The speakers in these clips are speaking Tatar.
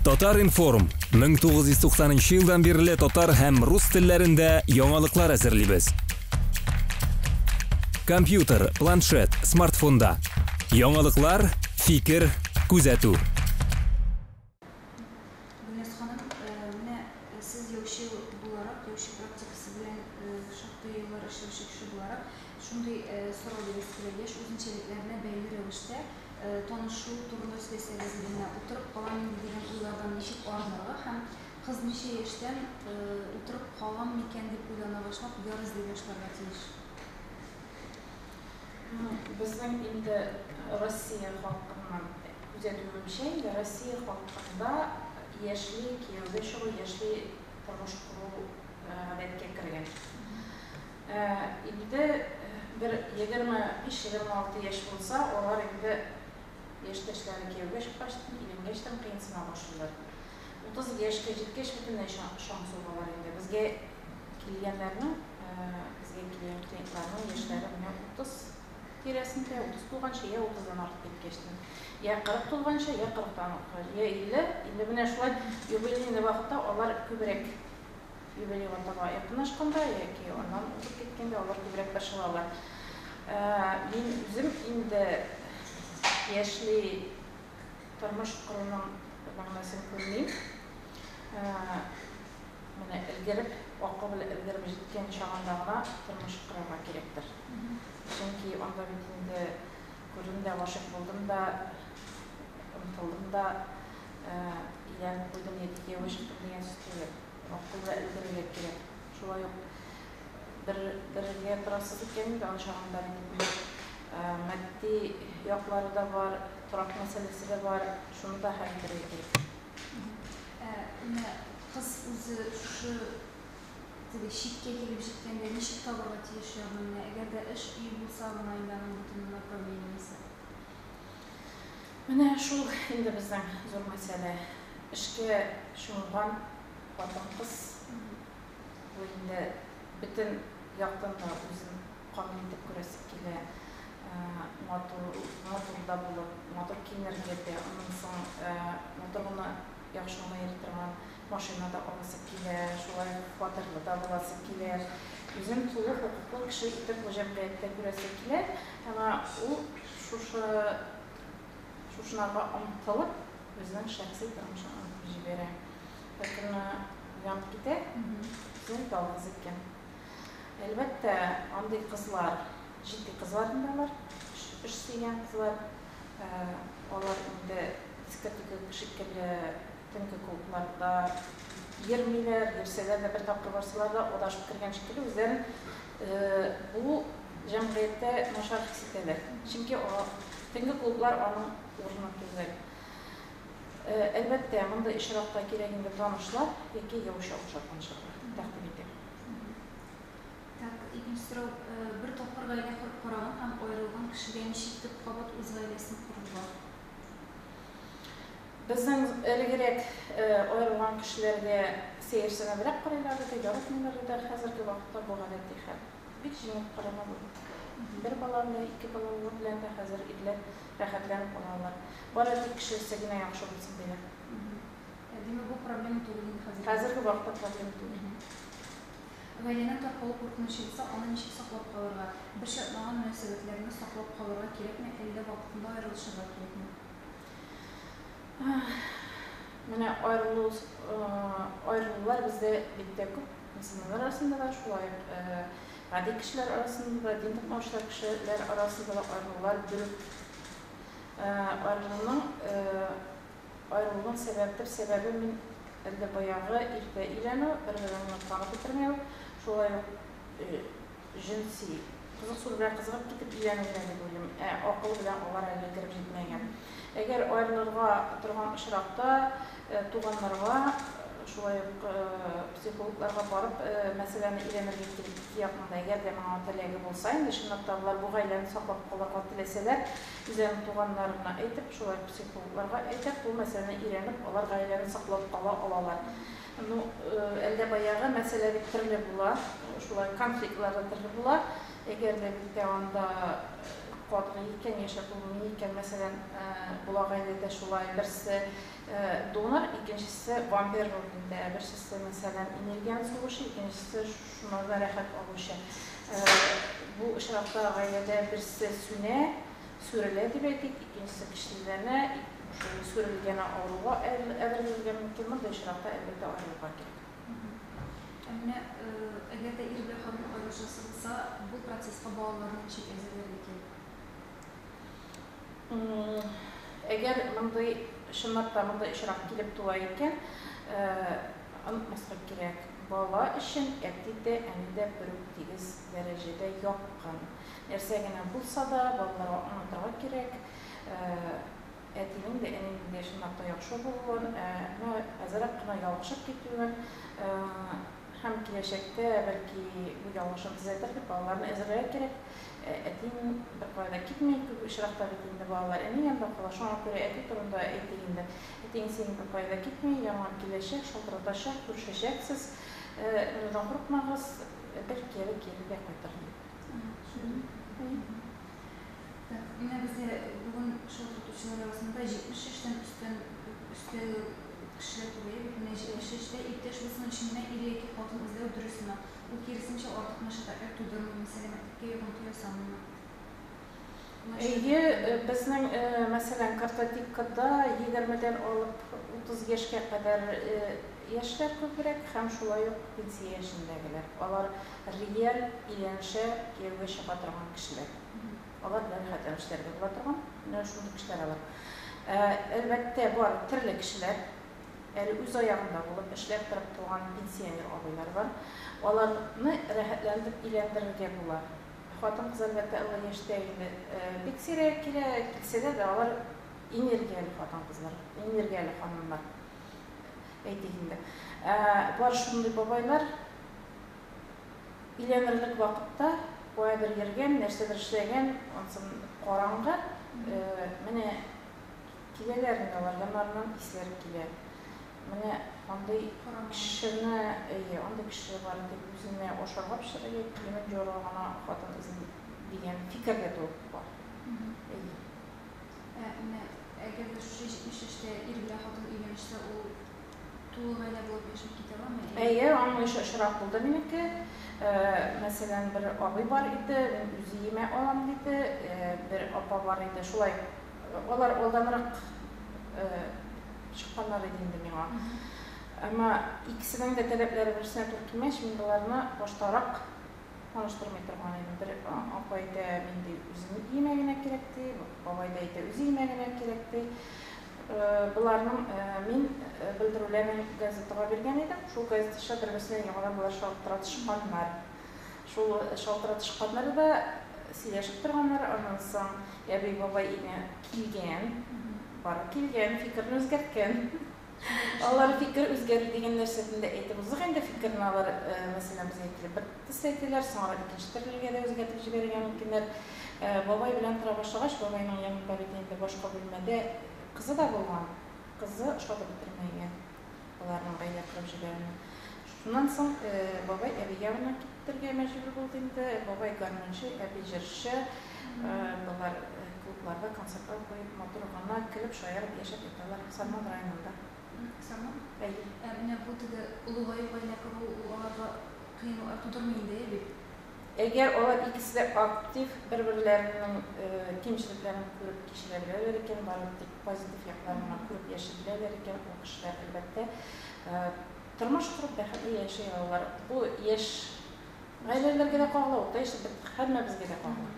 Татар-информ, 1990 нчы елдан бирле татар һәм рус телләрендә яңалыклар әзерлибез. Компьютер, планшет, смартфонда. Яңалыклар, фикер, күзәтү. танышу турында сөйләсәгез иде, менә утырып калам инде дигән уйлардан ничек арынырга һәм кыз ничә яшьтән утырып калам микән дип уйлана башлап, яр эзли башларга тиеш? Ну, безнең инде Россия халкыннан күзәтүемчә, инде Россия халкында яшьли кияүгә чыгу, яшьли тормыш кору гадәткә кергән. Инде бер егерме биш-егерме алты яшь булса, алар инде яшьтәшләре кияүгә чыккач, өйләнгәч тә кыенсына башлыйлар. Утыз яшькә җиткәч, бөтенләй чаң сугалар инде. Безгә килгәннәрнең, безгә килгән клиентларның яшьләре менә утыз тирәсендә, утыз тулганчы, йә утыздан артып киткәч тә, йә кырык тулганчы, йә кырыктан артыгач, йә илле. Инде менә шулай юбилейный вакытта алар күбрәк. Юлы Югатага якынлашканда яки аннан узып киткәндә алар күбрәк борчылалар. Мин үзем инде яшьли тормыш коруның мәгънәсен күрмим. Менә өлгереп, акыл белән өлгереп җиткән чагында гына тормыш корырга кирәктер. Чөнки анда бит инде күрдем дә, гашыйк булдым да, омтылдым да. Иләр куйдым яки кияүгә чыктым дигән сүз түгел. Акыл да өлгерергә кирәк. Шулай ук бер бергә торасы дип кемнең дә ачагында матди яклары да бар, торак мәсьәләсе дә бар. Шуны да хәл итәргә кирәк. Менә кыз үзе шушы теге чиккә килеп җиткәндә ничек табарга тиеш ягъни менә әгәр дә эш, өй булса гына инде аның бөтен гомер проблемасы. Менә шул инде безнең зур мәсьәлә. Эшкә чумган хатын-кыз бу инде бөтен яктан да үзен камил итеп күрәсе килә. Матур, матур да булып, матур киенергә дә, аннан соң матур гына, яхшы гына йөри торган машина да аласы килә, шулай ук фатирлы да буласы килә. Үзен тулы хокуклы кеше итеп бу җәмгыятьтә күрәсе килә. Әмма ул Шушы чушнага омтылып, үзенең шәхси тормышын онытып җибәрә. Беркөнне уянып китә, үзен ялгыз иткән. Әлбәттә, андый кызлар, җитди кызлар инде алар, эш сөйгән кызлар, алар инде дискотека шикелле Төнге клубларда йөрмиләр, йөрсәләр дә, бер тапкыр барсалар да, адашып кергән шикелле, үзләрен бу җәмгыятьтә начар хис итәләр. Чөнки төнге клублар аның урыны түгел. Әлбәттә, мондый очракта кирәк инде танышлар яки яучы охшар танышырга тәкъдим итәм. Так, икенче сорау. Бер тапкыр гаилә корып караган һәм аерылган кешегә ничек итеп кабат үз гаиләсен корырга? Безнең элегрәк аерылган кешеләргә сәерсенебрәк карыйлар иде, яратмыйлар иде, ә хәзерге вакытта бу гадәти хәл. Бик җиңел кырыла бу. Бер балалы, ике балалылар белән дә хәзер ирләр рәхәтләнеп ала алар. Бары тик кешесе генә яхшы булсын диләр. Димәк, бу проблема түгел инде хәзерге вакытта. Хәзерге вакытта проблема түгел. Гаиләнең таркалу куркынычы булса, аны ничек саклап калырга? Бер чатнаган мөнәсәбәтләрне саклап калырга кирәкме, әллә вакытында аерылышырга кирәкме? Менә айрылу айрылулар бездә бик тә күп. Мөселманнар арасында да, шулай ук гади кешеләр арасында да, дин токмаучылар кешеләр арасында да айрылулар бирү. Айрылуның айрылуның сәбәп бер сәбәбе мин әллә баягы иртә өйләнү, бер-береңне тагы бетермәү, шулай ук Җенси кызык су белән кызыгып китеп дигәнеңдә дип уйлыйм. Ә акыл белән алар әле кереп җитмәгән. Әгәр аерылырга торган очракта туганнарга, шулай ук психологларга барып мәсьәләне өйрәнергә кирәк, ике якның да әгәр дә моңа теләге булса, инде чынлап та алар бу гаиләне саклап калырга теләсәләр, үзләренең туганнарына әйтеп, шулай ук психологларга әйтеп, бу мәсьәләне өйрәнеп, алар гаиләне саклап кала алалар. Ну, әллә баягы мәсьәлә бит төрле була, шулай конфликтлар да төрле була. Әгәр дә безгә анда катгый икән, яшәп булмый икән, мәсәлән, була гаиләдә шулай, берсе донор, икенчесе вампир ролендә, берсесе, мәсәлән, энергияне сугучы, икенчесе шунардан рәхәт алучы. Бу очракта гаиләдә берсе сүнә, Сүрелә дип әйтик, икенчесе көчлеләнә, шул сүрелгәне авыруга әверелергә мөмкин, мондый очракта, әлбәттә, аерылырга кирәк. Ә менә әгәр дә ир белән хатын аерылышасы булса, бу процесска балаларны ничек әзерләргә кирәк? Әгәр мондый, чынлап та, мондый очрак килеп туа икән, онытмаска кирәк, бала өчен әти дә, әни дә бер үк тигез. дәрәҗәдә якын. Нәрсә генә булса да, балаларга аңлатырга кирәк, әтинең дә, энеңнең дә чынлап та яхшы булуын, ә менә әзрәк кына ялгышып китүен һәм киләчәктә, бәлки, бу ялгышын төзәтер дип, балаларны әзерләргә кирәк. Әтиең беркая да китми, күп очракта бит инде балалар энең янында кала. Шуңа күрә әти турында әйтик инде. Әтиең синең беркая да китми, яңа киләчәк, шалтыратачак, күрешәчәксез. Моныдан курыкмагыз. Ә бер кире кире дә кайтыр инде. Менә бездә бүген шул тотучылар арасында 70 яшьтән өстән өсте кешеләр күбәя бит. Менә 70 яшьтә иптәш булсын өчен генә ир яки хатын эзләү дөрес сыман. Ул киресенчә артык мәшәкатьләр тудырмыймы, сәламәтлеккә йогынты ясамыймы? Әйе, безнең, мәсәлән, картотекада егермедән алып утыз яшькә кадәр яшьләр күбрәк һәм шулай ук пенсия яшендәгеләр. Алар реаль өйләнешә, кияүгә чыга торган кешеләр. Алар белән хәтта эшләргә була торган, менә шундый кешеләр алар. Әлбәттә, бар, төрле кешеләр. Әле үз аягында булып, эшләп торып туган пенсионер абыйлар бар. Аларны рәхәтләнеп өйләндерергә була. Хатын-кыз, әлбәттә, олы яшьтә инде бик сирәк килә. Килсәләр дә, алар энергияле хатын-кызлар, энергияле ханымнар, әйтик инде. Ә бар шундый бабайлар, өйләнерлек вакытта каядыр йөргән, нәрсәдер эшләгән, ансын караңгы, менә Киләләр инде алар, яннарыннан исләре килә. Менә андый кешене, әйе, андый кеше бар иде, үзенә ашарга пешерергә киемен җуарга гына хатын эзли, дигән фикер дә туып бар. Әйе. Ә менә әгәр дә шушы 70 яшьтә ир белән хатын өйләнешсә, ул тулы гаилә булып яшәп китә аламы? Әйе, аның ише очрак булды минеке. Мәсәлән, бер абый бар иде, мин үз өемә алам диде, бер апа бар иде, шулай. Алар алданрак чыкканнар иде инде миңа. Әмма икесенең дә таләпләре берсенә туры килмәч, мин боларны баштарак таныштырмый торган идем. Бер апа әйтә, мин ди үземнең өемә генә кирәк ди, бабай да әйтә, үз өемә генә кирәк ди. Боларның мин белдерүләрен газетага биргән идем. Шул газетача бер-берсенә яңадан болар шалтыратышканнар. Шул шалтыратыш катнады да сөйләшеп торганнар, аннан соң әби бабай өенә килгән, барып килгән, фикерен үзгәрткән. Алар фикер үзгәрү дигән нәрсәсен дә әйтеп узыйк инде, фикерен алар, мәсәлән, без әйтелеп бер төсле әйтәләр, соңрак икенче төрлегә дә үзгәртеп җибәрергә мөмкиннәр. Бабай белән тора башлагач, бабайның янында бит инде башка бүлмәдә кызы да булган, кызы ошатып бетермәгән. аларның гаилә корып җибәрүне. Шуннан соң бабай әби ягына китергә мәҗбүр булды инде. Бабай гармунчы, әби җырчы. Болар клубларда концертлар куеп, матур гына көлеп, шаярып яшәп яталар Сарман районында. Сарман? Әйе. Ә менә бу теге олыгаю, гаилә кору, ул аларга кыенлыклар тудырмый инде, әйе бит? Әгәр алар икесе дә актив, бер-берләренең кимчелекләрен күреп кичерә беләләр икән, барлык тик позитив якларын гына күреп яши беләләр икән, ул кешеләр, әлбәттә, тормыш корып, бәхетле яши алалар. Бу яшь гаиләләргә дә кагыла, урта яшьле бер һәммәбезгә дә кагыла.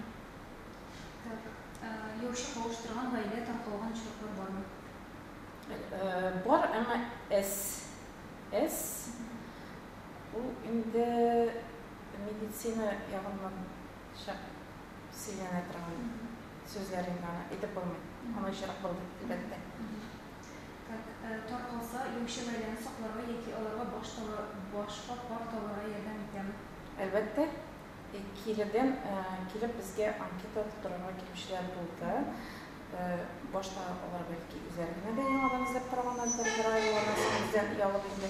Так, яучы кавыштырган гаилә таркалган очраклар бармы? Бар, әмма әз. Әз. Ул инде медицина ягыннан шәп сөйләнә торган сүзләр инде аны әйтеп булмый. Аны очрак булды, әлбәттә. Так, таркалса, юучы гаиләне сакларга яки аларга баш таба, башка пар табарга ярдәм итәме? Әлбәттә. Киредән килеп безгә анкета тутырырга килүчеләр булды. Башта алар бәлки үзләре генә дә яңадан эзләп караганнардыр, бер ай юанасы үзләрен оялып инде.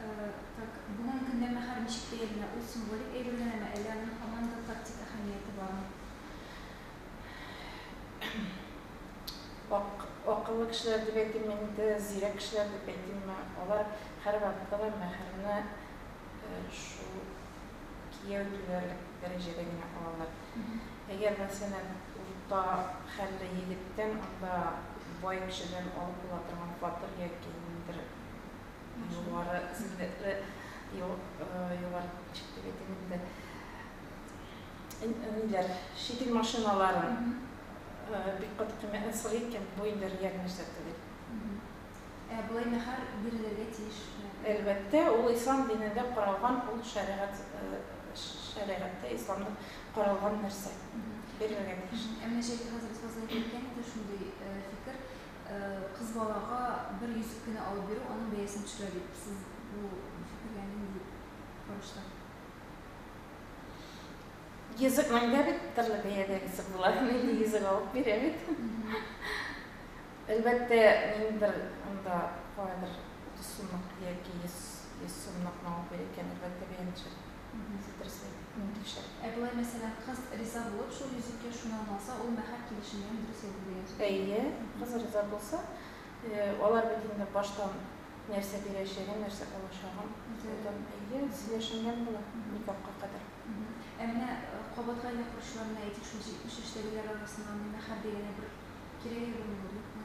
Так, бүгенге көндә мәһәр ничек бәяләнә? Ул символик әйбер генәме, әллә аның һаман да тактик әһәмияте бармы? Ак, акыллы кешеләр дип әйтим инде, зирәк кешеләр дип әйтимме, алар һәрвакытта да мәһәрне шул кияү түләрлек дәрәҗәдә генә алалар. Әгәр, мәсәлән, урта хәлле егеттән, анда бай кешедән алып була торган фатир яки ниндидер югары сәләтле югары чит ил әйтәм инде ниләр чит ил машиналары бик каты кыйммәтне сорый икән бу инде реаль нәрсә түгел ә болай мәһәр бирелергә тиеш әлбәттә ул ислам динендә каралган ул шәригать шәригатьтә исламда каралган нәрсә бирергә тиеш ә менә җәлил хәзрәт фазлый әйтә икән инде шундый фикер Кыз балага бер йөзек кенә алып бирү аның бәясен төшерә дип сез бу фикергә нинди карашта? Йөзек мәңге бит төрле бәядә йөзек була, милли йөзек алып бирә бит. Әлбәттә, мин бер анда кайбер 30 сумлык яки 100 сумлык алып бирә икән, әлбәттә, бәяне төшерә. Үзе дөресрәк, мөмкинчелек. Ә болай, мәсәлән, кыз риза булып, шул йөзеккә шуны аңа алса, ул мәһәр килешенгән, дөрес әйтте дигән сүз. Әйе, кыз риза булса, алар бит инде баштан нәрсә бирәчәген, нәрсә алачагын соңдан, әйе, сөйләшенгән була, никахка кадәр. Ә менә кабат гаилә коручылар, менә әйтик, шул 70 яшьтәгеләр арасына мәһәр дигәне бер кирәге булмыймы, юкмы?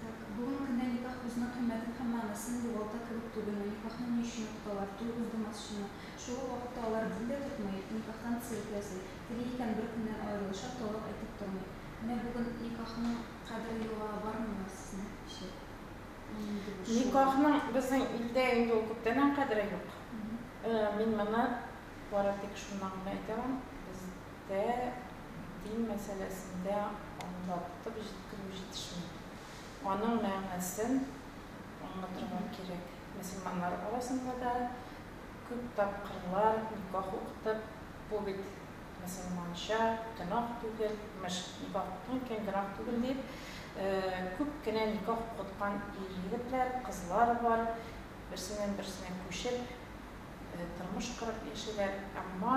Так, бүген көндә никах үзенең кыйммәтен һәм мәгънәсен югалта кебек түгелме? Никахны ни өчен укыталар? Туй уздымасчымы? Шул ук вакытта алар дин дә тотмый, никахтан цирк ясый. Тели икән бер көннән аерылышыр, талак әйтеп тормый. Менә бүген никахның кадере югала бармыймы, сезнең фикерчә? Нинди бу шул? Никахның безнең илдә инде ул күптәннән кадере юк. Мин моны бары тик шуннан гына әйтә алам, без Тә дин мәсьәләсендә аңлатып җиткерү җитешми. Аның мәгънәсен аңлатырга кирәк. Мөселманнар арасында да күп тапкырлар никах укытып, бу бит мөселманча гөнаһ түгел, имеш, никах укыту икән, гөнаһ түгел дип, күп кенә никах укыткан ир-егетләр, кызлар бар, берсеннән-берсенә күчеп, тормыш корып яшиләр, әмма.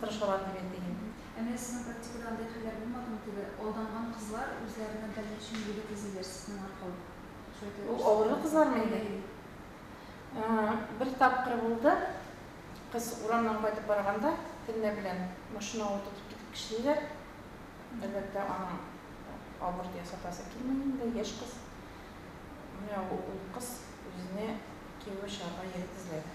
тырышалар дип әйтим. Ә менә сезнең практикада андый хәлләр булмадымы, теге алданган кызлар үзләренә дальнейшем егет эзлиләр сезнең аркылы? Шулай итеп Ул авырлы кызлармы инде? Әйе, әйе. Бер тапкыр булды, кыз урамнан кайтып барганда, төнлә белән машина ул тотып китеп кешниләр, әлбәттә, аның аборт ясатасы килми инде, яшь кыз. Менә ул кыз үзенә кияүгә чыгарга егет эзләде.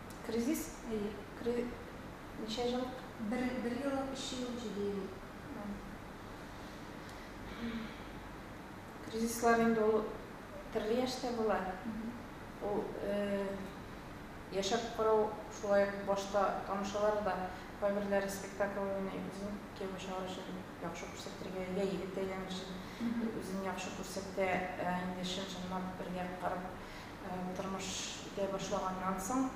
Кризис, әйе. Кри, ничә җыллык? Бер, бер еллык, өч ел, җиде ел. Кризислар инде ул төрле яшьтә була. Ул яшәп карау шулай ук башта танышалар да, кайберләре спектакль уйный, үзен кияүгә чыгару өчен яхшы күрсәтергә, йә егет әйләнер өчен үзен яхшы күрсәтә, ә инде чын-чынлап бергә карап Тормыш итә башлаганнан соң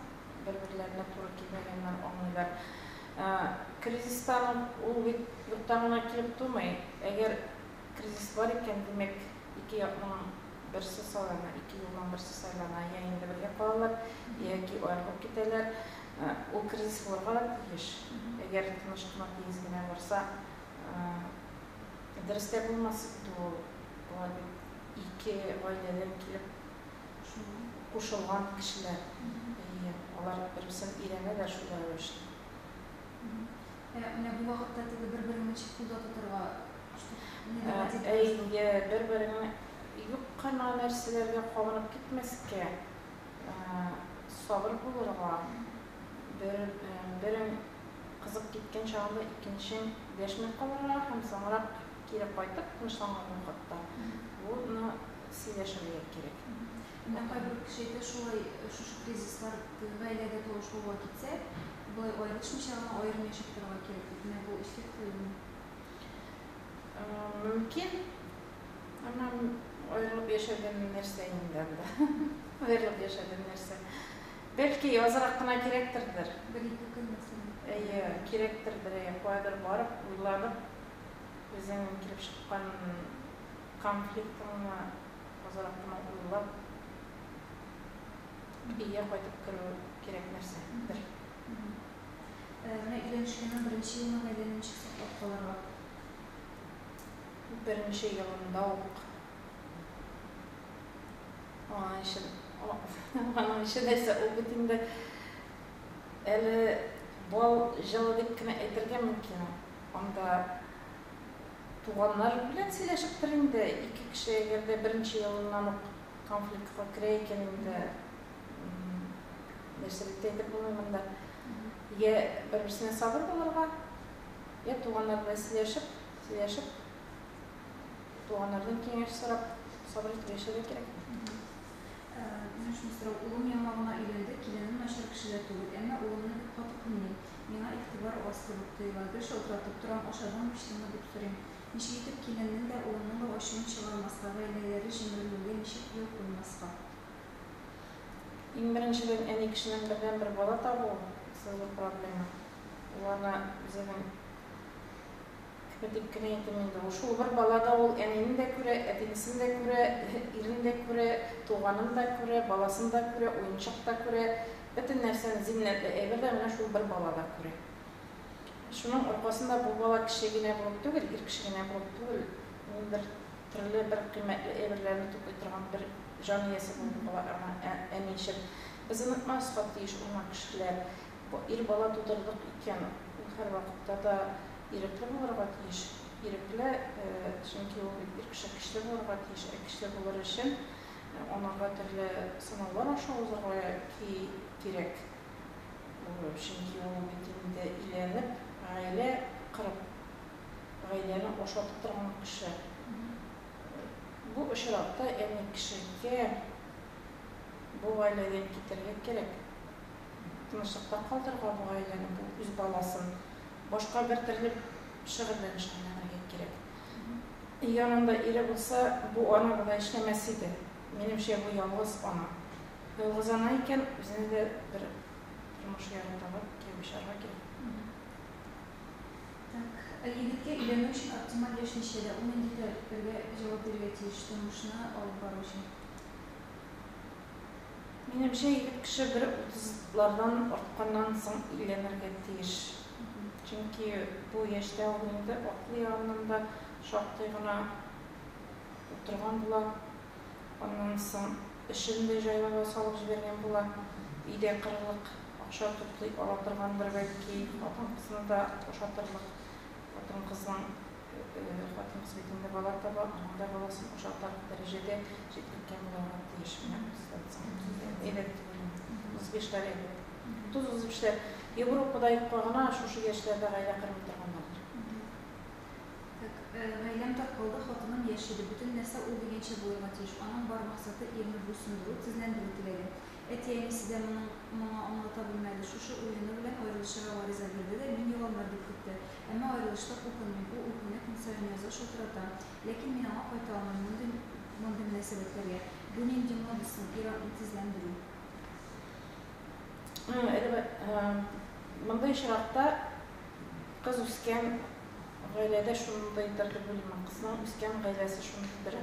бер-берләренә туры килмәгәннәр аңлыйлар. Кризистан ук ул бит юктан гына килеп тумый. Әгәр кризис бар икән, димәк, ике якның берсе сайлана, ике юлның берсе сайлана, йә инде бергә калалар, яки аерылып китәләр. Ул кризис булырга да тиеш. Әгәр тыныч кына, тигез генә барса, дөрес тә булмас инде ул. Алар бит ике гаиләдән килеп кушылган кешеләр. Әйе, алар бер-берсен өйрәнәләр шул рәвешле. Ә менә бу вакытта теге бер-береңне ничек кулда тотарга нигә? Әйе, бер-береңне юк кына нәрсәләргә кабынып китмәскә, сабыр булырга, берең кызып киткән чагында икенчең дәшми калырга һәм соңрак Кире кайтып, тынычланган вакытта буны сөйләшергә кирәк. Менә кайбер кеше әйтә, шулай шушы кризислар гаиләдә тавыш куба китсә, болай аерылышмыйча гына аерым яшәп торырга кирәк дип, менә бу искә тотылыймы? Мөмкин. Әмма аерылып яшәүдән нәрсә инде анда? Аерылып яшәүдән нәрсә? Бәлки, азрак кына кирәктердер. Бер-ике көн мәсәлән. Әйе, кирәктердер, әйе, каядыр барып, уйланып, үзеңнең килеп чыккан конфликтыңны азрак кына уйлап, өйгә кайтып керү кирәк нәрсә дер. Менә өйләнешкәннең беренче елында әллә ничек саклап калырга? Беренче елында ук аның өчен, аның өчен әйтсә, ул бит инде әле бал җылы дип кенә әйтергә мөмкин. Анда туганнар белән сөйләшеп тор инде, ике кеше әгәр дә беренче елыннан ук конфликтка керә икән инде, нәрсә дип тә әйтеп булмый монда. Йә бер-берсенә сабыр булырга, йә туганнар белән сөйләшеп, сөйләшеп, туганнардан киңәш сорап, сабыр итеп яшәргә кирәк. Үзем шуны сорау, улым яңа гына өйләнде, киленем начар кеше дә түгел, әмма улымны бик каты кыйный. Миңа игътибар аз кебек тоела. Гел шалтыратып торам, ашадыңмы-эчтеңме дип сорыйм. Ничек итеп киленнең дә, улымның да ачуын чыгармаска, гаиләләре җимерелүгә ничек юл куймаска? Иң беренчедән, әни кешенең бердәнбер бала табуы, зур проблема. Ул аны үзенең Әтиме дип кенә әйтим инде ул. Шул бер бала да ул әнине дә күрә, әтинесен дә күрә, ирен дә күрә, туганын да күрә, баласын да күрә, уенчык та күрә, бөтен нәрсәне, зиннәтле әйбер дә менә шул бер бала да күрә. Шуның аркасында бу бала кеше генә булып түгел, ир кеше генә булып түгел, ниндидер төрле бер кыйммәтле әйберләрне туплый торган бер җан иясе булып кала аңа әни өчен. Без онытмаска тиеш ул мак кешеләр. Ир бала тудырдык икән, ул һәрвакытта да ирекле булырга тиеш. Ирекле, чөнки ул бит ир кеше көчле булырга тиеш. Ә көчле булыр өчен анага төрле сынаулар аша узарга кирәк. Чөнки ул бит инде өйләнеп, гаилә корып, гаиләне ашатып торган кеше. Бу очракта әни кешегә бу гаиләдән китәргә кирәк. Тынычлыкта калдырырга бу гаиләне, бу үз баласын. Башка бер төрле шөгыльләнеш әйләнергә кирәк. Әгәр анда ире булса, бу ана болай эшләмәс иде. Минемчә, бу ялгыз ана. Ялгыз ана икән, үзенә дә бер тормыш яры табып, кияүгә чыгарга кирәк. Так. Ә егеткә өйләнү өчен оптималь яшь ничәдә? Ул нинди таләпләргә җавап бирергә тиеш тормышны алып бару өчен? Минемчә, егет кеше бер утызлардан артканнан соң өйләнергә тиеш. Чөнки бу яшьтә ул инде акыл ягыннан да шактый гына утырган була. Аннан соң эшен дә җайлава салып җибәргән була. Өйдә кырырлык акча туплый ала торгандыр, бәлки, хатын-кызны да ашатырлык. Хатын-кызның Хатын-кыз бит инде бала таба, аның да баласын ошатарлык дәрәҗәдә җитлеккә буларга тиеш. Менә представиться итеп, әйбәт дип уйлыйм. Узып яшьләр әйбәт. Тоз узып яшьләр. Европада юкка гына шушы яшьләрдә гаилә кырмый торганнардыр. Так, гаиләм таркалды, хатыным яши, ди. Бөтен нәрсә ул дигәнчә булырга тиеш. Аның бар максаты, ирне буйсындыру, тезләндерү теләге. Әти-әнисе дә моның моңа аңлата белмәде. Шушы уены белән аерылышырга гариза бирде дә, мин югалыныр дип көтте. Әмма аерылыштык, укымыйм. Ул үкенә, көн саен яза, шылтырата. Ләкин мин аңа кайта алмыйм, мондый мондый мөнәсәбәтләргә. Бу нинди мода соң, ир-атны тезләндерү? Мондый очракта кыз үскән гаиләдә шундыйдыр дип уйлыйм. Кызның үскән гаиләсе шундыйдыр.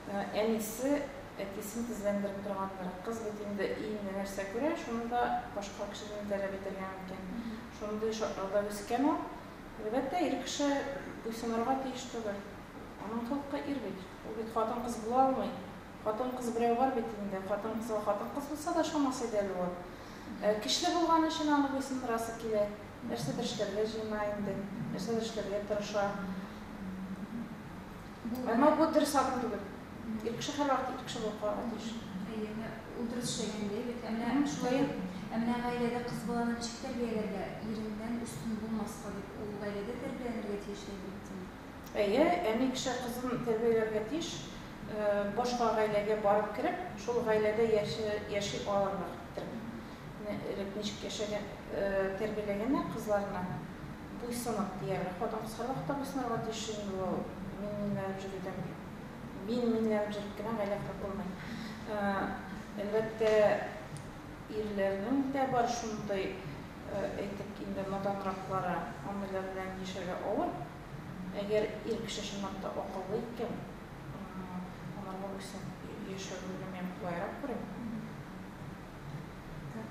Әнисе, әтисен тезләндереп торгандыр. Кыз бит инде өендә нәрсә күрә, шуны да башка кешедән таләп итәргә мөмкин. Шундый шартлауда үскән ул. Әлбәттә, ир кеше буйсынырга тиеш түгел. Аның холкы ир бит. Ул бит хатын-кыз була алмый. Хатын-кыз берәү бар бит инде. Хатын-кызга хатын-кыз булса да ошамас иде әле ул. Ә көчле булган өчен аны буйсындырасы килә. Нәрсәдер эшләргә җыена инде. Нәрсәдер эшләргә тырыша. Әмма бу дөрес адым түгел. Ир кеше һәрвакыт ир кеше булып калырга тиеш. Әйе, әмма ул дөрес эшләгән дә бит. Ә менә шулай ук, ә менә гаиләдә кыз баланы ничек тәрбияләргә, иреннән өстен булмаска дип, ул гаиләдә тәрбияләнергә тиеш дә бит, дим. Әйе, әни кеше кызын тәрбияләргә тиеш, башка гаиләгә барып кереп, шул гаиләдә яши алырлык итеп. Менә элек ничек яшәгән, тәрбияләгәннәр кызларны. Буйсынып, диярлек, хатын-кыз һәрвакыт та буйсынырга тиеш, чөнки ул мин-минләнеп җөрүдән мин-минләнеп җөреп кенә гаилә корып булмый. Әлбәттә, ирләрнең дә бар шундый, әйтик инде, наданраклары, андыйлар белән яшәргә авыр. Әгәр ир кеше чынлап та акыллы икән, анарга буйсынып яшәүне генә мин кулайрак күрим. Так.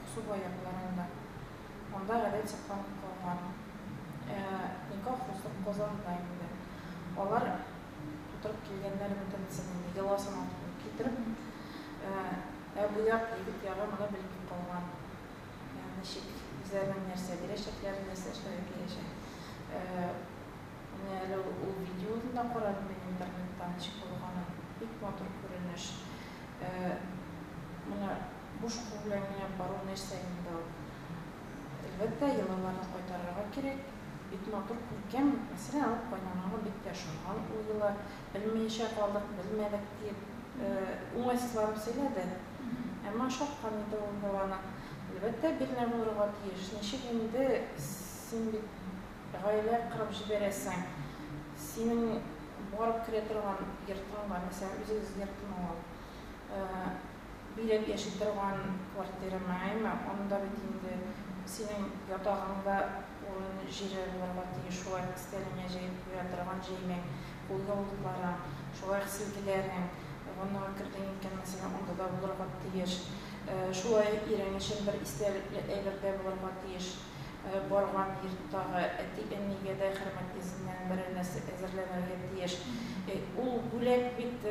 Аксубай якларында. Анда гадәт сакланып калган. Ә никах узган Казанда инде. Алар тутырып килгәннәр бөтен семьяны, йоласын алып китереп. Ә бу як, егет ягы моны белми калган. Ничек, үзләренең нәрсә бирәчәкләрен, нәрсә эшләргә киләчәк. Менә әле ул видеоны да карадым мин интернетта, ничек булганын. Бик матур күренеш. Моны Буш кул белән генә бару нәрсә инде ул? Әлбәттә, йолаларны кайтарырга кирәк. Бик матур күркәм мәсьәлә алып кайнаганы бик тә ошанган ул йола. Белмиенчә калдык, белмәдек, диеп, уңайсызланып сөйләде. Әмма ошаткан иде ул йола аның. Әлбәттә, бирнә булырга тиеш. Ничек инде, син бит гаилә кырып җибәрәсең. Синең барып керә торган йортың бар, мәсәлән, үзегезнең йортмы ул? биреп яши торган квартирама, әйме, анда бит инде синең ятагың да урын-җире булырга тиеш, шулай ук өстәлеңә җәеп куя торган җәймәң, кулъяулыкларың, шулай ук силгеләрең, ваннага кердең икән, мәсәлән, анда да булырга тиеш. Шулай ук ирең өчен бер истәлекле әйбер дә булырга тиеш. Барган йорттагы әти-әнигә дә хөрмәт исеннән берәр нәрсә әзерләнергә тиеш. Ул бүләк бит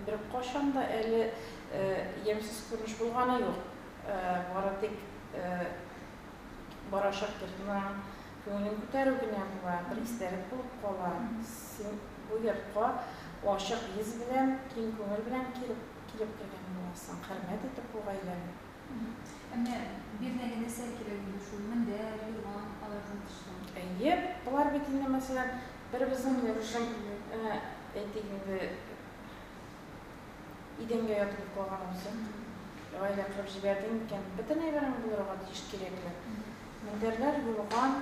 беркайчан да әле ямьсез күренеш булганы юк. Бары тик барачак йортның күңелен күтәрү генә була, бер истәлек булып кала. Син бу йортка ачык йөз белән, киң күңел белән килеп килеп кергән буласың, хөрмәт итеп бу гаиләне. Әмма бирнә генә сәл кирәк иде шул, мендәр, юрган, алардан тышкы. Әйе, болар бит инде, мәсәлән, беребезнең рәвешен әйтик инде, идәнгә ятып йоклаганыбызны гаилә кырып җибәрде микән? Бөтен әйберең булырга тиеш кирәкле. Мендәрләр, юрган.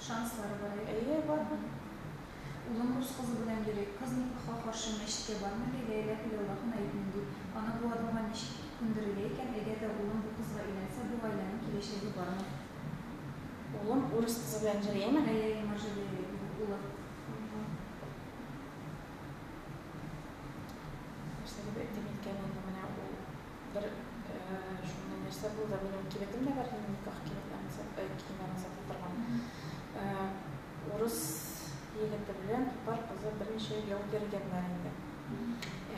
Шанслары бар әйе. Әйе, бар. Улым рус кызы белән йөри. Кыз никахка каршы мәчеткә бармый ди, Ләйлә кулъяулык кына итмим ди. Аны бу адымга ничек күндерергә икән, әгәр дә улым бу кызга өйләнсә, бу гаиләнең киләчәге бармы? Улым урыс кызы белән йөриме? Әйе, әйе, Маржалия улы. Нәрсә дип әйтим икән инде менә ул. Бер шундый нәрсә булды, минем кибетем дә бар, минем никах кибетем киемен озата торган. Урыс егете белән татар кызы берничә ел йөргәннәр инде.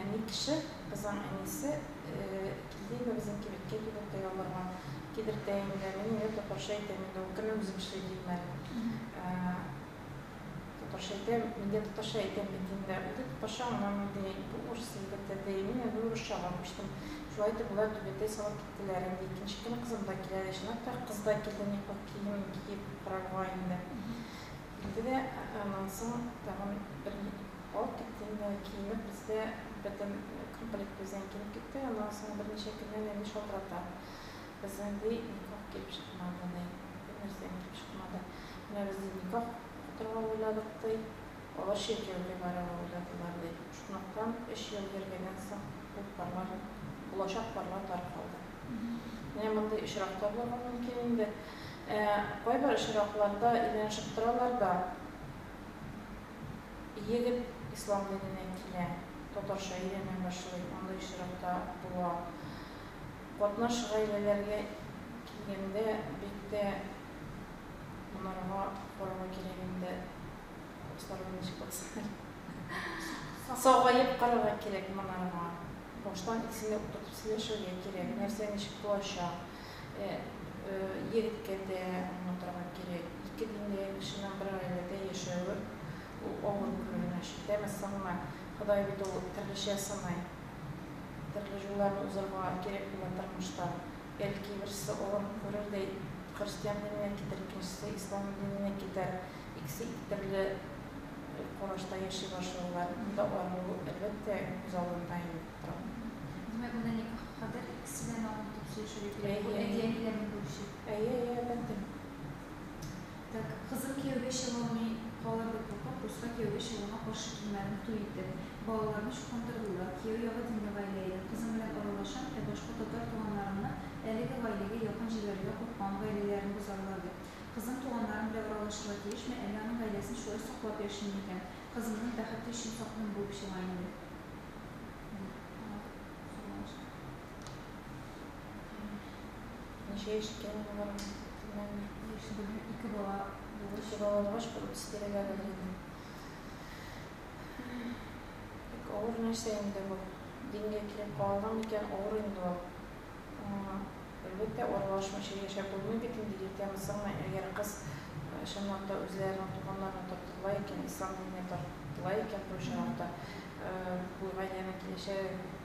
Әни кеше, кызның әнисе килде инде безнең кибеткә кибетта яларга. Кидертә инде, мин инде татарча әйтәм инде, ул кемнең үзем эшли дим әле. Татарча әйтәм, мин дә татарча әйтәм бит инде. Ул ди, татарча аңламый, ди, бу урыс егете, ди. Мин инде урысчага күчтем. Шулай итеп, болар түбәтәй салып киттеләр инде. Икенче көн кызым да килә, ди. Чынлап та, кыз да килде никах киемен киеп карарга инде. Килде дә, аннан соң тагын бер алып китте инде. Киенеп безгә бердәм комплект бездән килеп китте. Аннан соң берничә көннән инде шалтырата. Безнең ди никах дип чыкмады ди. Бу нәрсә итеп чыкмады. Менә без ди никах укытырга уйладык ди. Алар чиркәүгә барырга уйладылар ди. Шунлыктан өч ел йөргәннән соң ул парлар, булачак парлар таркалды. Менә мондый очрак та булырга мөмкин инде. Ә кайбер очракларда өйләнешеп торалар да, егет ислам диненә килә, татарча өйрәнә башлый, мондый очрак та була. Катнаш гаиләләргә килгәндә, бик тә монарга карарга кирәк инде, абысарлар ничек булсын. Сагаеп карарга кирәк монарга. Баштан икесен дә утыртып сөйләшергә кирәк, нәрсә ничек булачак. Егеткә дә аңлатырга кирәк, ике диндәге кешенең бер гаиләдә яшәве ул авыр күренеш. Итәме, соңмы? Ходай бит ул төрлечә сынай. Төрле юлларны узарга кирәк була тормышта. Бәлки, берсе олыгын күрер дә христиан диненә китәр, икенчесе ислам диненә китәр. Икесе ике төрле карашта яши башлыйлар. Монда аерылу, әлбәттә, күз алдында инде тора. Димәк, монда никах кадәр икесе дә намус итеп сөйләшергә кирәк. Бу әти-әниләрнең бурычы. Әйе, әйе, әлбәттә. Так, кызым кияүгә чыга алмый калыр дип куркып, дурслар кияүгә чыгуына каршы килмәдем, туй иттек. Балаларны чукындырдылар. Кияү ягы динле гаилә иде. Кызым белән аралашам, ә башка татар туганнарымны әлеге гаиләгә якын җибәрергә куркам, гаиләләрен бозарлар дип. Кызым туганнарым белән аралашырга тиешме, әллә аның гаиләсен шулай саклап яшим микән? Кызымның бәхете өчен сак булып чыга инде, дип сораган. Ничә яшь икән алар? Яшь бүген ике бала булгач. Ике бала булгач, бер үтс тирәгә булды. Бик авыр нәрсә инде бу. Дингә килеп калган икән, авыр инде ул. Әлбәттә, аралашмыйча яшәп булмый бит инде, иртәме, соңмы, әгәр кыз чынлап та үзләренең туганнарына тартыла икән, ислам диненә тартыла икән, бу чынлап та бу гаиләнең киләчәге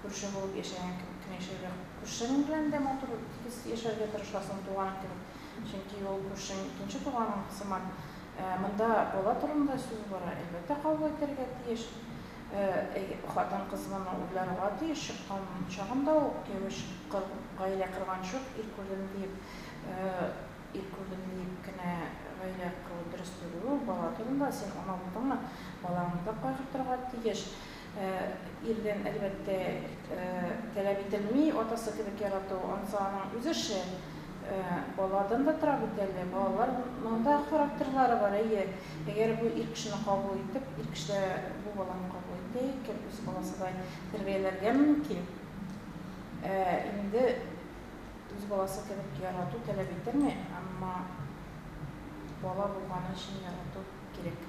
Күрше булып яшәгән кебек кенә яшәргә, күршең белән дә матур, тигез яшәргә тырышасың, туганың кебек. Чөнки ул күршең икенче туганың сыман. Монда бала турында сүз бара, әлбәттә, кабул итәргә тиеш. Әйе, хатын-кыз моны уйларга тиеш, чыккан чагында ук, кияүгә чыккыр, гаилә корган чор, ир күрдем диеп, ир күрдем диеп кенә гаилә кору дөрес түгел ул. Бала турында син ана булдыңмы, балаңны да кайгыртырга тиеш. Ирдән, әлбәттә, таләп ителми атасы кебек ярату, анысы аның үз эше. Баладан да тора бит әле. Балалар ның да характерлары бар, әйе. Әгәр бу ир кешене кабул итеп, ир кеше дә бу баланы кабул итә икән, үз баласыдай тәрбияләргә мөмкин. Ә инде үз баласы кебек ярату таләп ителми, әмма бала булганы өчен ярату кирәк.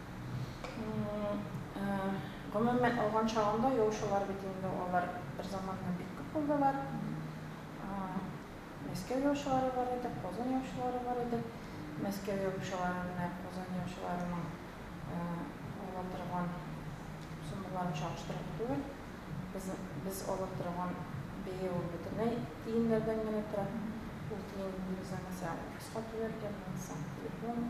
Гомумән алган чагында яучылар бит инде алар бер заманнан бик күп булдылар. Мәскәү яучылары бар иде, Казан яучылары бар иде. Мәскәү яучылары менә Казан яучыларының ала торган суммаларын чагыштырып түгел. Без без ала торган бәя ул бөтенләй тиеннәрдән генә тора. Ул тиен булмаса, мәсәлән, офиска түләргә, телефон,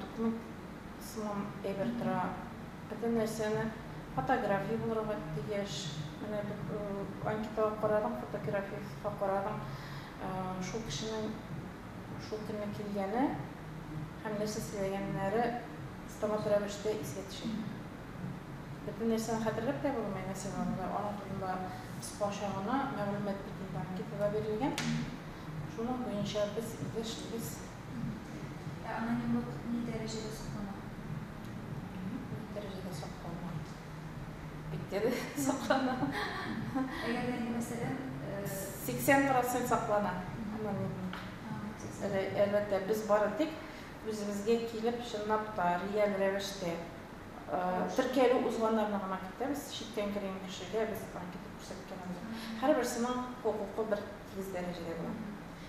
Туклык сыман әйбер тора. Бөтен нәрсәне фотография булырга тиеш. Менә бит анкетага карадың, фотографиясен карадың. Шул кешенең шул көнне килгәне һәм нәрсә сөйләгәннәре автомат рәвештә искә төшә. Бөтен нәрсәне хәтерләп тә булмый, нәрсә барында, аның турында кыскача гына мәгълүмат бит инде анкетада бирелгән. Шуның буенча без иде эшлибез. Ә анонимлык ни дәрәҗәдә саклана? Анонимлык ни дәрәҗәдә саклана? Бик дә саклана. Әгәр дә инде, мәсәлән, 80 процент саклана анонимлык. Әлбәттә, без бары тик үзебезгә килеп, чынлап та, реаль рәвештә теркәлү узганнарны гына кертәбез, читтән кергән кешегә без анкета күрсәткәнебез юк. Һәрберсенең хокукы бер тигез дәрәҗәдә була.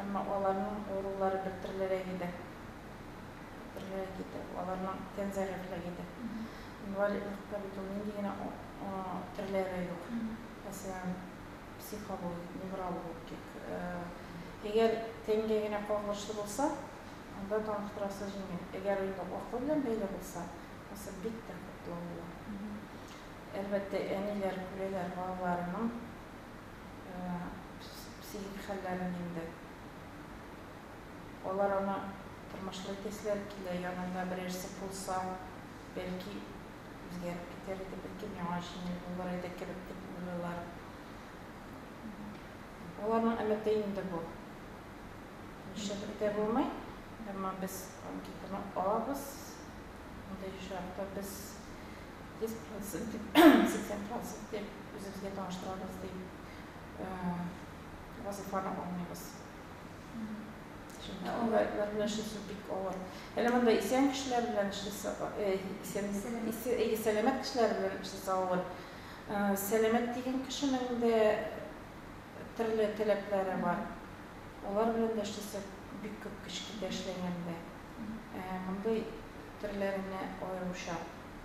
Әмма аларның авырулары бер төрлерәк иде. Бер төрлерәк иде. Аларның тән зәгыйфьлеге иде. Инвалидлыкта бит ул нинди генә төрләре юк. Мәсәлән, психологик, неврологик. Әгәр тәнгә генә кагылышлы булса, анда таныктырасы җиңел. Әгәр инде акыл белән бәйле булса, хәзер бик тә катлаулы. Әлбәттә, әниләр күрәләр балаларының. психик хәлләрен инде. Алар аны тормышлый төсләр килә, янында берәрсе булса, бәлки, үзгәреп китәр иде, бәлки, миңа җиңел булыр иде кебек дип уйлыйлар. Аларның өмете инде бу. Нишләтеп тә булмый, әмма без анкетаны алабыз. Андый очракта без Йөз процент дип, сиксән процент дип, үзебезгә таныштырабыз дип, вазифаны алмыйбыз. Шунда анда эшлисе бик авыр. Әле монда исән кешеләр белән эшлисе, исән, исән, сәламәт кешеләр белән эшлисе авыр. Сәламәт дигән кешенең дә төрле таләпләре бар. Алар белән дә эшлисе бик күп кечкенә эшләгәндә. Мондый төрләренә аеруча.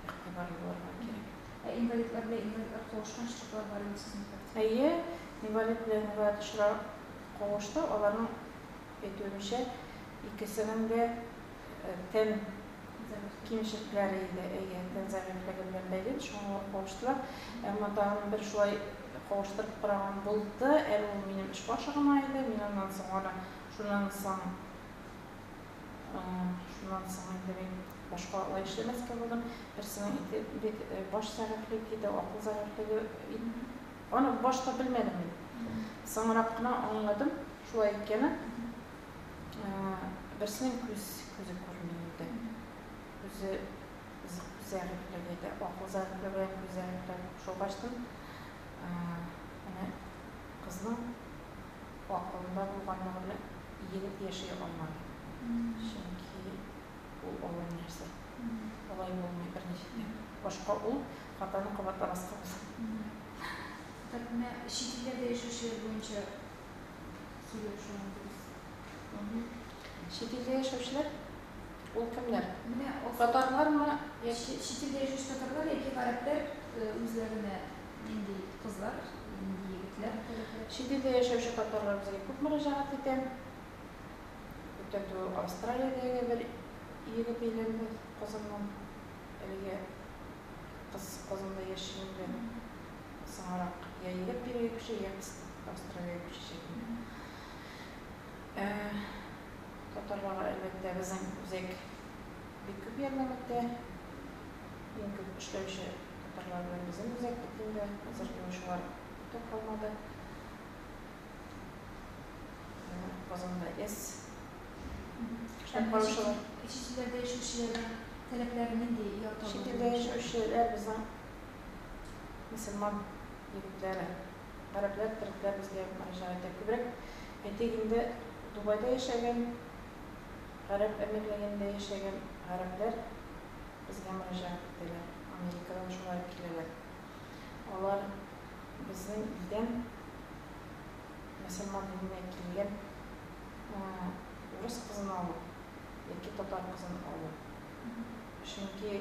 игътибарлы булырга кирәк. Ә инвалидлар белән инвалидлар кавышкан очраклар бармы сезнең практикада? Әйе, инвалид белән инвалид очрак кавышты, аларның әйтүенчә, икесенең дә тән кимчелекләре иде, әйе, тән зәгыйфьлеге белән бәйле, шуңа алар кавыштылар. Әмма тагын бер шулай кавыштырып караган булды, әле ул минем эш башы гына иде, мин аннан соң аны, шуннан соң. Шуннан соң инде мин башка алай эшләмәскә булдым. Берсенең ите бик баш зәрәфли диде, акыл зәрәфлеге инде. Аны башта белмәдем мин. Соңрак кына аңладым, шулай икәнен. Берсенең күз, күзе күрми иде. Күзе зәрәфли диде. Акыл зәрәфлеге белән күз зәрәфлеге кушылгачтын, әнә кызның Акылында булганлыгы белән игенеп яши алмады. Чөнки ул олы нәрсә. Алай булмый берничек тә. Башка ул хатаны кабатламаска була. Так менә чит илләрдә яшәүчеләр буенча сөйләү шуны дөрес. Чит илдә яшәүчеләр? Ул кемнәр? Менә татарлармы яки. Чит илдә яшәүче татарлар яки гарәпләр үзләренә Нинди кызлар, нинди егетләр? Чит илдә яшәүче татарлар безгә күп мөрәҗәгать итә. Күптән түгел Австралиядәге бер егет өйләнде Казаннан. Әлегә кыз Казанда яши инде. Соңарак я егет бирегә күчә, я кыз Австралиягә күчәчәк инде. Татарларга, әлбәттә, безнең үзәк бик күп ярдәм итә. Иң күп эшләүче. Татарлар белән безнең үзәк бетүендә зарланучылар күп тә калмады. Менә Казанда эс. Эшләп караучылар. Ә чит илләрдә яшәүчеләрнең таләпләре нинди? Чит илдә яшәүчеләр безнең мөселман егетләре, гарәпләр, төрекләр безгә мөрәҗәгать итә. Күбрәк, әйтик инде, Дубайда яшәгән, Гарәп Әмирлегендә яшәгән гарәпләр Безгә мөрәҗәгать итәләр. Америкадан шулай ук киләләр. Алар безнең илдән мөселман иленә килгән урыс кызын алу яки татар кызын алу. Чөнки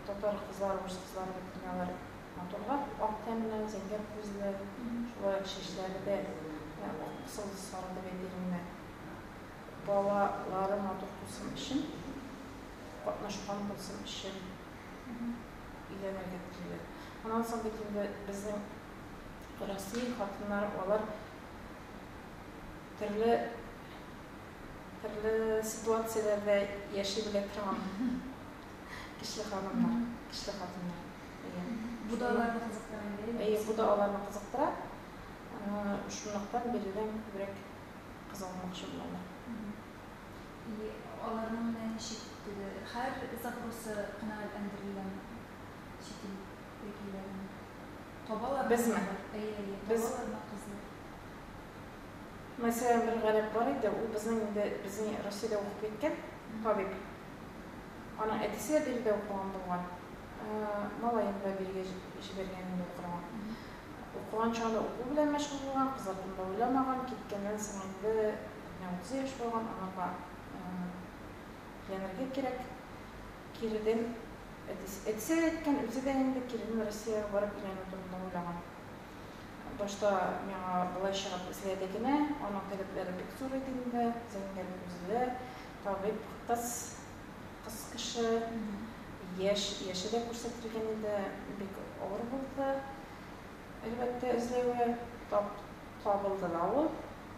татар кызлары, урыс кызлары бит менә алар матурлар, ак тәнле, зәңгәр күзле, шулай ук чәчләре дә ак пысылды сары дип әйтер инде. Балалары матур булсын өчен катнашкан булсын өчен өйләнергә телиләр. Аннан соң бит инде безнең Россия хатыннары алар төрле төрле ситуацияләрдә яши белә торган кишле ханымнар, кишле хатыннар. Бу да аларны кызыктыра. Әйе, бу да аларны кызыктыра. Шунлыктан биредән күбрәк кыз алмакчы булалар. И, аларның менә ничек теге һәр запросы канәгатьләндереләме? Чит ил вәкилләренең. Табалармы Безме? кызлар? Әйе, әйе, Без. табалармы кызлар? Мәсәлән, бер гарәп бар иде, ул безнең инде безнең Россиядә укып киткән табиб. Аның әтисе дә биредә укыган булган. Малаен да бирегә җибәргән инде укырга. Укыган чагында уку белән мәшгуль булган, кызлар турында уйламаган, киткәннән соң инде. Менә утыз яшь булган аңарга хыянәлгә кирәк. Киреден әтисе, әтисе дә әйткән, үзе дә инде киреден Россиягә барып өйләнү турында уйлаган. Башта миңа болай чыгып эзләде генә, аның таләпләре бик зур иде инде, зәңгәр күзле, табиб кыз, кыз кеше, яшь, яше дә күрсәтелгән иде, бик авыр булды, әлбәттә, эзләве, тап, табылды да ул.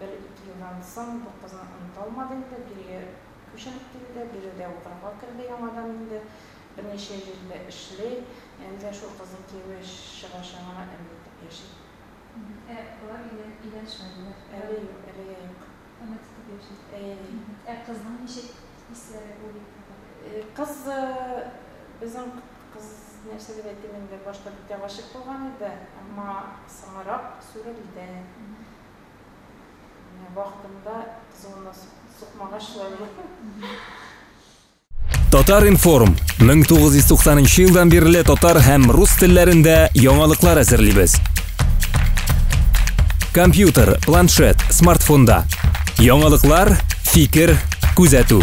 Бер-ике елдан соң бу кызны оныта алмады инде, бирегә күченеп килде, биредә укырга керде яңадан инде, берничә җирдә эшли, янә дә шул кызның кияве чыгачагына өмет итеп яши. Ә алар өйләнешмәделәр? Әле юк, әлегә юк. Өмет итеп яши. Әйе. Ә кызның ничек хисләре ул егеткә карата? Кыз, безнең кыз, нәрсә дип әйтим инде, башта бик тә гашыйк булган иде, әмма соңрак сүрелде. Вакытында зона сукмагач шулай була. Татар-информ 1990 елдан бирле татар һәм рус телләрендә яңалыклар әзерлибез. Компьютер, планшет, смартфонда. Яңалыклар, фикер, күзәтү.